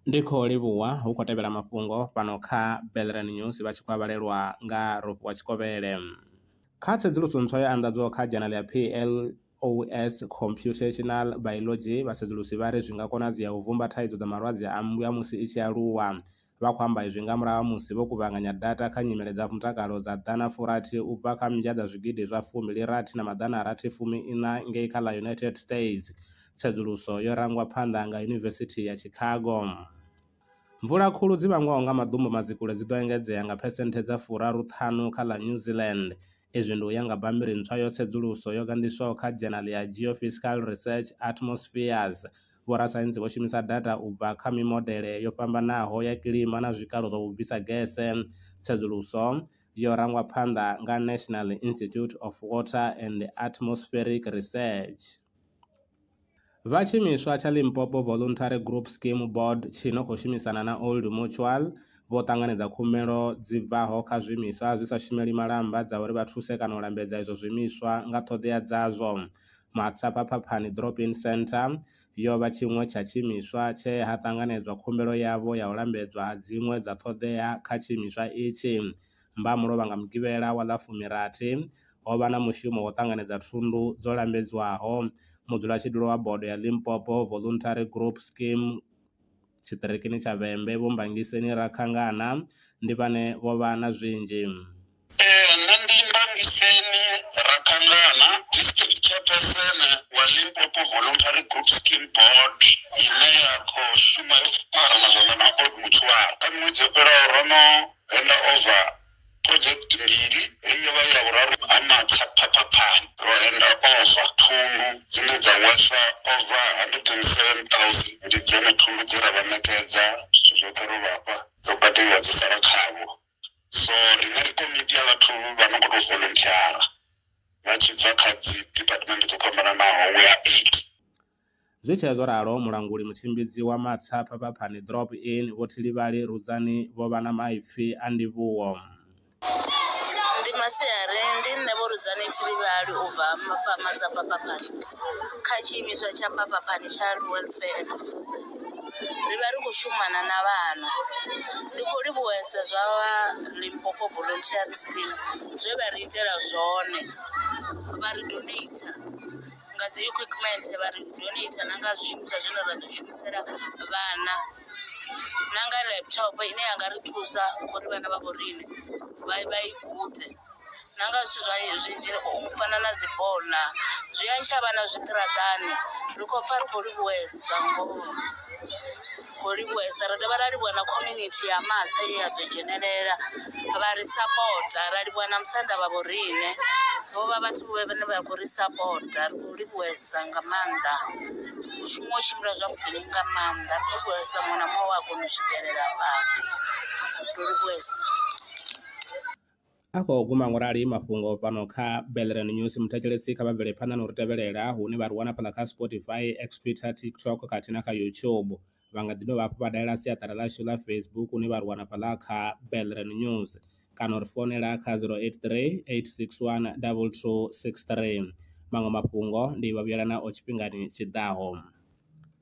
ndi khou livhuwa hu khou tevhela mafhungo fhano kha Belrand News vha tshi khou a vhalelwa nga Rofhiwa Tshikovhele. Kha tsedzuluso ntswa yo anḓadzwaho kha dzhanele ya PLOS Computational Biology, vhasedzulusi vha ri zwi nga konadzea u vhumba thaidzo dza malwadze a mmbwa musi i tshi aluwa. Vha khou amba izwi nga murahu ha musi vho kuvhanganya data kha nyimele dza mutakalo dza ḓana furathi u bva kha mmbya dza zwigidi zwa fumbili rathi na maḓana a rathi fumi iṋa ngei kha ḽa United States. Tsedzuluso yo rangwa phanḓa nga Yunivesithi ya Chicago. Mvula khulu dzi vhangwaho nga maḓumbu madzikule dzi ḓo engedzea nga phesenthe dza furaru ṱhanu kha ḽa New Zealand, Izwi ndi u ya nga bammbiri ntswa ya tsedzuluso yo ganḓiswaho kha dzhenali ya Geophysical Research Atmospheres. Vhorasaintsi vho shumisa data u bva kha mimodele yo fhambanaho ya kilima na zwikalo zwa vhubvisa gese. Tsedzuluso yo rangwa phanḓa nga National Institute of Water and Atmospheric Research. Vha tshiimiswa tsha Limpopo Voluntary Group Scheme Board tshi no khou shumisana na Old Mutual vho ṱanganedza khumbelo dzi bvaho kha zwiimiswa zwi sa shumeli malamba dza uri vha thuse kana u lambedza izwo zwiimiswa nga ṱhoḓea dzazwo. Matsapha Phaphani Drop-In Centre yo vha tshiṅwe tsha tshiimiswa tshe ha ṱanganedzwa khumbelo yavho ya u lambedzwa ha dziṅwe dza ṱhoḓea kha tshiimiswa itshi. Mbamulovha nga Mugivhela wa ḽa fumi rathi, ho vha na mushumo wo ṱanganedza thundu dzo lambedzwaho mudzulatshidulo wa bodo ya Limpopo Voluntary Group Scheme tshiṱirikini tsha Vhembe Vho Mbangiseni Rakhangana ndi vhane vho vha na zwinzhi. Ee, nṋe ndi Mbangiseni Rakhangana, District Chairperson wa Limpopo Voluntary Group Scheme Board ine ya khou shuma yo farana zwanḓa na Old Mutual. Kha miṅwedzi yo fhelaho ro no henda over. Phurodzhekiti mbili, ri yo vha ya vhuraru ha matsha phaphaphani, ro henda ova. Thundu dzine dza wesa ova 107,000 ndi dzone thundu dze ra vha ṋekedza, zwithu zwoṱhe ro vha fha, dzo badeliwa dzo sala khavho. So, riṋe ri komiti ya vhathu vha no khou tou volonthiyara vha tshi bva kha dziḓipatimennde dzo fhambananaho, we are eight. Zwi tshee zwo ralo, mulanguli mutshimbidzi wa matsha Phapaphani Drop In, Vho Thilivhali Rudzani vho vha na maipfi a ndivhuwo. Ndi masiari ndi nṋe Vho Rudzani Thilivhali u bva Mafhama dza Phapaphani kha tshiimiswa tsha Phapaphani Child Welfare and Resource Centre. Ri vha ri khou shumana na vhana. Ndi khou livhuwesa zwa vha Limpopo Volunteering Scheme zwe vha ri itela zwone vha ri donater. nga dzi equipment vha ri donater na nga zwishumiswa zwine ra ḓo shumisela vhana na nga laptop ine ya nga ri thusa uri vhana vha vho riṋe vha vha i gude na nga zwithu zwa zwinzhi u fana na dzi bola zwi a ntsha vhana zwiṱaraṱani ri khou pfha ri khou livhuwesa ngoho. kho livhuwesa ra dovha ra livhuwa na community ya matsha ye ya ḓo dzhenelela vha ri sapota ra livhuwa na musanda vha vho riṋe vho vha vhathu vhe vhane vha khou ri sapota ri khou livhuwesa nga maanḓa mushumo u tshimbila zwavhuḓi nga maanḓa ri khou livhuwesa muṅwe na muṅwe we a kona u swikelela fhaḽa ri livhuwesa. A khou guma ngo rali mafhungo fhano kha Bellerin News. Muthetshelesi kha vha bvele phanḓa na u ri tevhelela hune vha ri wana fhaḽa kha Spotify, X, Twitter, TikTok khathihi na kha YouTube. Vha nga ḓi dovha hafhu vha dalela siaṱari ḽashu ḽa Facebook hune vha ri wana fhaḽa kha Bellerin News kana u ri founela kha 083 861 2263. Maṅwe mafhungo ndi Vhavhuyelanaho tshifhingani tshi ḓaho.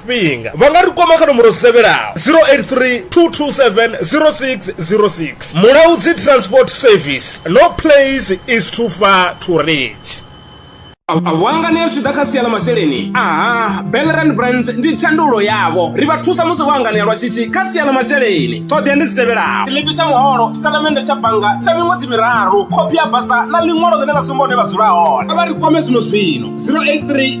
tshifhinga vha nga ri kwama kha nomboro dzi tevhelaho 083 227 0606 mulaudzi transport service no place is too far to reach wangania zwi ḓa kha sia ḽa masheleni aha belrand brands ndi tshandulo yavho ri vha thusa musi vho anganea lwa shishi kha sia ḽa masheleni ṱhoḓea ndi dzi tevhelaho tshiḽipi tsha muholo tshitatamennde tsha bannga tsha miṅwedzi miraru khophi ya basa na ḽiṅwalo ḽine ḽa sumba hune vha dzula hone a vha ri kwame zwino zwino 083